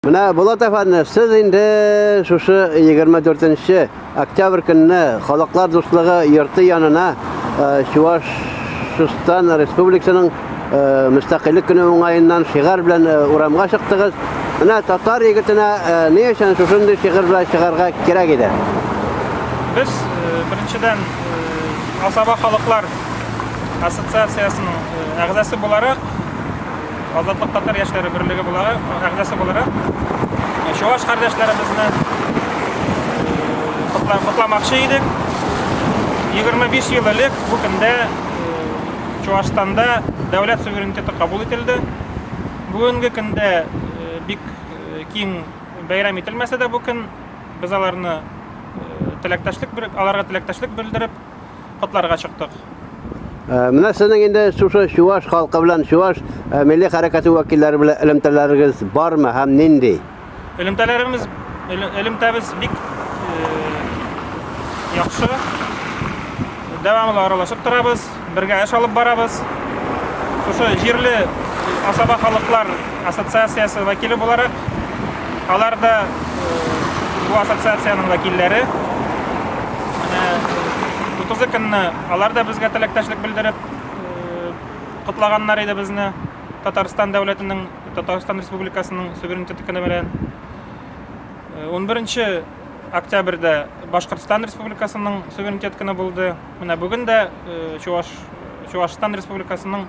Менә Булат әфәнде, сез инде шушы 24 октябрь көнне халыклар дуслыгы йорты янына Чувашстан республикасының мөстәкыйльлек көне уңаеннан шигар белән урамга чыктыгыз. Менә татар егетенә ни өчен шушындый шигыр белән чыгарга кирәк иде? Без беренчедән Асаба халыклар ассоциациясенең әгъзасы буларак Азатлык татар яшьләре берлеге булары әгъзасы буларак чуаш кардәшләребезне котламакчы идек. 25 ел элек бу көндә Чуашстанда дәүләт суверенитеты кабул ителде. Бүгенге көндә бик киң бәйрәм ителмәсә дә бу көн без аларны теләктәшлек аларга теләктәшлек белдереп котларга чыктык. Менә сезнең инде шушы чуваш халкы белән чуваш милли хәрәкәте вәкилләре белән элемтәләрегез бармы һәм нинди? Элемтәләребез элемтәбез бик яхшы. Дәвамлы аралашып торабыз, бергә эш алып барабыз. Шушы җирле асаба халыклар Ассоциациясе вәкиле буларак, алар да бу ассоциациянең вәкилләре. Менә 30 көнне алар да безгә теләктәшлек белдереп котлаганнар иде безне Татарстан дәүләтенең, Татарстан Республикасының суверенитеты көне белән. 11 октябрьдә Башкортстан Республикасының суверенитет көне булды. Менә бүген дә Чуваш Чувашстан Республикасының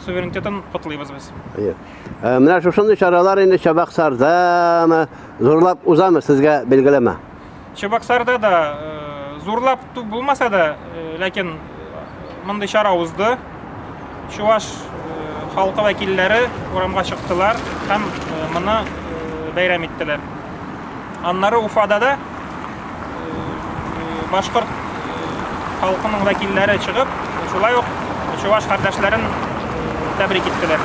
суверенитетын котлыйбыз без. Әйе. Э, менә шушындый чаралар инде Чабаксардамы, зурлап узамы сезгә билгеләмә? Чабаксарда да э, зурлап булмаса да, э, ләкин мондый чара узды. Чуваш халкы вәкилләре урамга чыктылар һәм моны бәйрәм иттеләр. Аннары Уфада да башкорт халкының вәкилләре чыгып, шулай ук чуваш кардәшләрен тәбрик иттеләр.